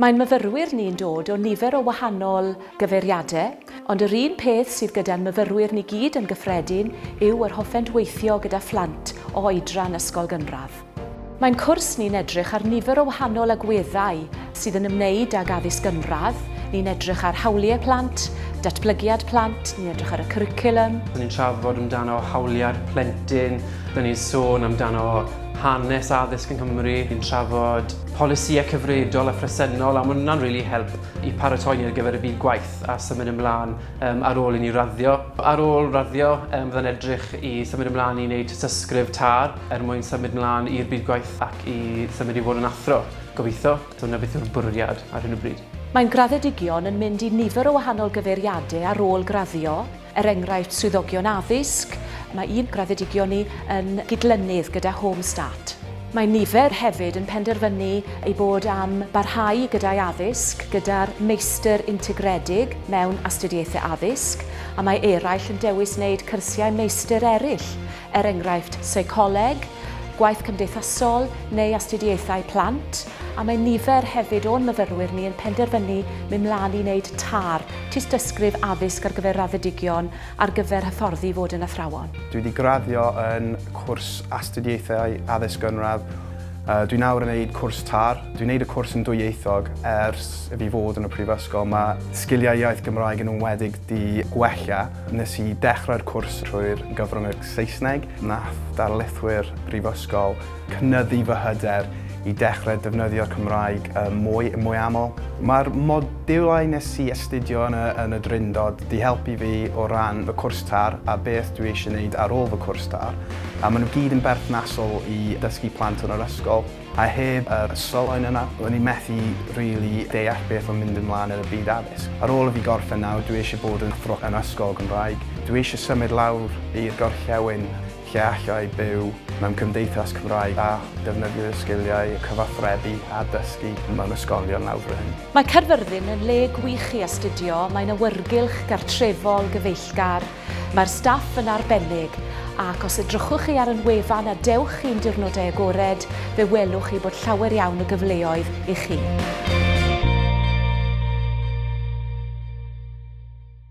Mae'n myfyrwyr ni'n dod o nifer o wahanol gyfeiriadau, ond yr un peth sydd gyda'n myfyrwyr ni gyd yn gyffredin yw yr hoffent weithio gyda phlant o oedran ysgol gynradd. Mae'n cwrs ni'n edrych ar nifer o wahanol agweddau sydd yn ymwneud ag addysg gynradd, ni'n edrych ar hawliau plant, datblygiad plant, ni'n edrych ar y cwricwlwm. Ni'n trafod amdano hawliau'r plentyn, ni'n sôn amdano hanes addysg yng Nghymru, ni'n trafod polisïau cyfredol a phresennol a mae hwnna'n really help i paratoi ni ar gyfer y byd gwaith a symud ymlaen um, ar ôl i ni raddio. Ar ôl raddio, um, fydda'n edrych i symud ymlaen i wneud tysysgrif tar er mwyn symud ymlaen i'r byd gwaith ac i symud i fod yn athro, gobeithio. So hwnna beth yw'r bwriad ar hyn o bryd. Mae'n graddedigion yn mynd i nifer o wahanol gyfeiriadau ar ôl graddio, Er enghraifft, swyddogion addysg, mae un graddedigion ni yn gydlynydd gyda Home Start. Mae nifer hefyd yn penderfynu eu bod am barhau gyda'u addysg gyda'r Meistr Integredig mewn Astudiaethau Addysg, a mae eraill yn dewis wneud cyrsiau meistr eraill er enghraifft seicoleg, gwaith cymdeithasol neu astudiaethau plant, a mae nifer hefyd o'n myfyrwyr ni yn penderfynu mynd mlaen i wneud TAR, Tystysgrif Addysg ar gyfer Raddedigion, ar gyfer hyfforddi i fod yn athrawon. Dwi wedi graddio yn cwrs Astudiaethau Addysg Gynradd. Dwi nawr yn gwneud cwrs TAR. Dwi'n gwneud y cwrs yn dwyieithog ers i fi fod yn y prifysgol. Mae sgiliau iaith Gymraeg yn enwedig 'di gwella. Nes i dechrau'r cwrs trwy'r gyfrwng Saesneg, nath darlithwyr Brifysgol cynyddu fy hyder i dechrau defnyddio'r Cymraeg mwy, mwy aml. Mae'r modiwlau nes i astudio yn y, yn y Drindod 'di helpu fi o ran fy cwrs târ a beth dwi eisiau neud ar ôl fy cwrs târ, a maen nhw gyd yn berthnasol i dysgu plant yn yr ysgol. A heb yr ystrolloedd yna, ro'n i methu rili deall beth oedd mynd ymlaen yn y byd addysg. Ar ôl i fi gorffen nawr, dwi eisiau bod yn athro yn ysgol Gymraeg. Dwi eisiau symud lawr i'r gorllewin lle allai byw mewn cymdeithas Cymraeg a defnyddio fy sgiliau cyfathrebu a dysgu mewn ysgolion lawr fy hun. Mae Caerfyrddin yn le gwych i astudio, mae'n awyrgylch gartrefol gyfeillgar, Mae'r staff yn arbennig, ac os edrychwch chi ar yn wefan a dewch chi'n diwrnodau agored, fe welwch chi bod llawer iawn o gyfleoedd i chi.